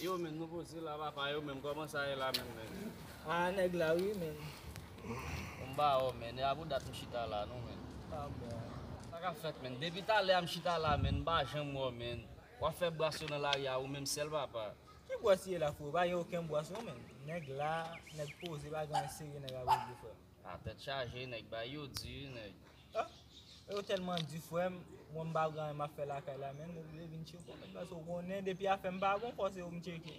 Yo men nouvo zila papa yo men koman sa ye la menm nèg yo. Haa nèg la ui menn. Bon bawo menn e a pou dat m chita la non menn. Pa bon. Sa kap fèt menn. Depi talè a m chita la menn m pa janm wè w menn. Wap fè bras yo nan lari a ou menm sèl papa. Ki bras ye la freo pa gen oken bras non menn. Nèg la nèg poze pa gen anyen serye nèg ap regle freo. Ah tèt chaje nèg bay yo di ui nèg. Ah yo tèlman di frèm mwen m pa pran anyen map fè lakay la menn m oblije vin tcheko menn paske ou konnen depi afèm pa bon fò se ou m tcheke.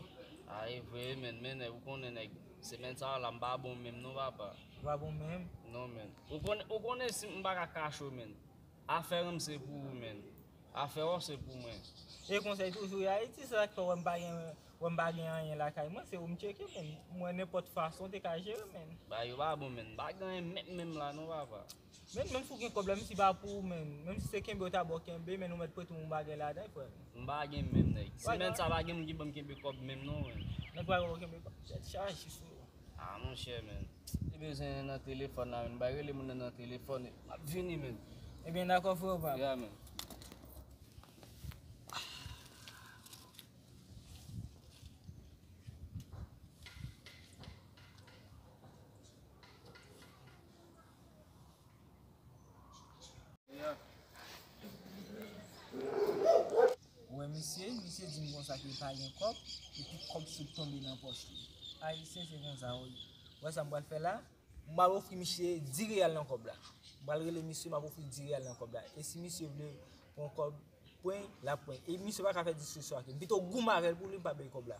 Ah e vre wi menn men nèg ou konnen nèg semèn sa yo la m pa bon menm non papa. Ou pa bon menm? Non menn ou konnen si m paka kache w menn. Afè ranm se pou ou menn. Afè or se pou mwen. E konsèy toujou ye ayiti se sak fè wèm pa gen wèm pa gen anyen lakay mwen se oum tcheke menn mwen nenpòt fason te ka jere menn. Bagay yo pa bon menn. M pa gen anyen menm menm la non papa. Menn menm si w gen kòb la menm si pa pou ou menn menm si se kenbe yo ta ba w kenbe menn ou mèt prete oun bagay ladan frèm. M pa gen menm nèg. Semèn sa pa gen moun ki banm kenbe kòb menm non menn. Nèg pa gen pou kenbe kòb tèt chaje sou ou. Ah monchè men Li bezwen nan telefòn la menn bay rele moun nan nan telefòn map vini menn Ebyen dakò freo pam Yeah menn. Yeah. Ou wè misye, misye dim konsa ke l pa gen kòb, epi kòb sot tonbe nan pòch li. Ayisyen se konsa wi. Ou wè sa m pral fè la? M pral ofri misye 10 real nan kòb la. M pral rele misye, m ap ofri l 10 real nan kòb la. E si misye vle pran kòb pwen, l ap pwen. E misye pa ka fè diskisyon ak li. M pito goumen avè l pou li m pa bay kòb la.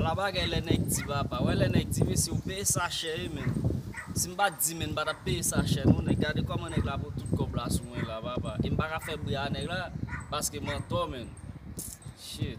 Ala bagay lè nèg di papa, wè lè nèg di mesye ou peye sa chè wi menn Si m pa t di menn m pa ta peye sa chè non nèg gade kòman nèg la pou tout kòb la sou mwen la papa E m pa ka fè bri a nèg la paske m antò menn Shit.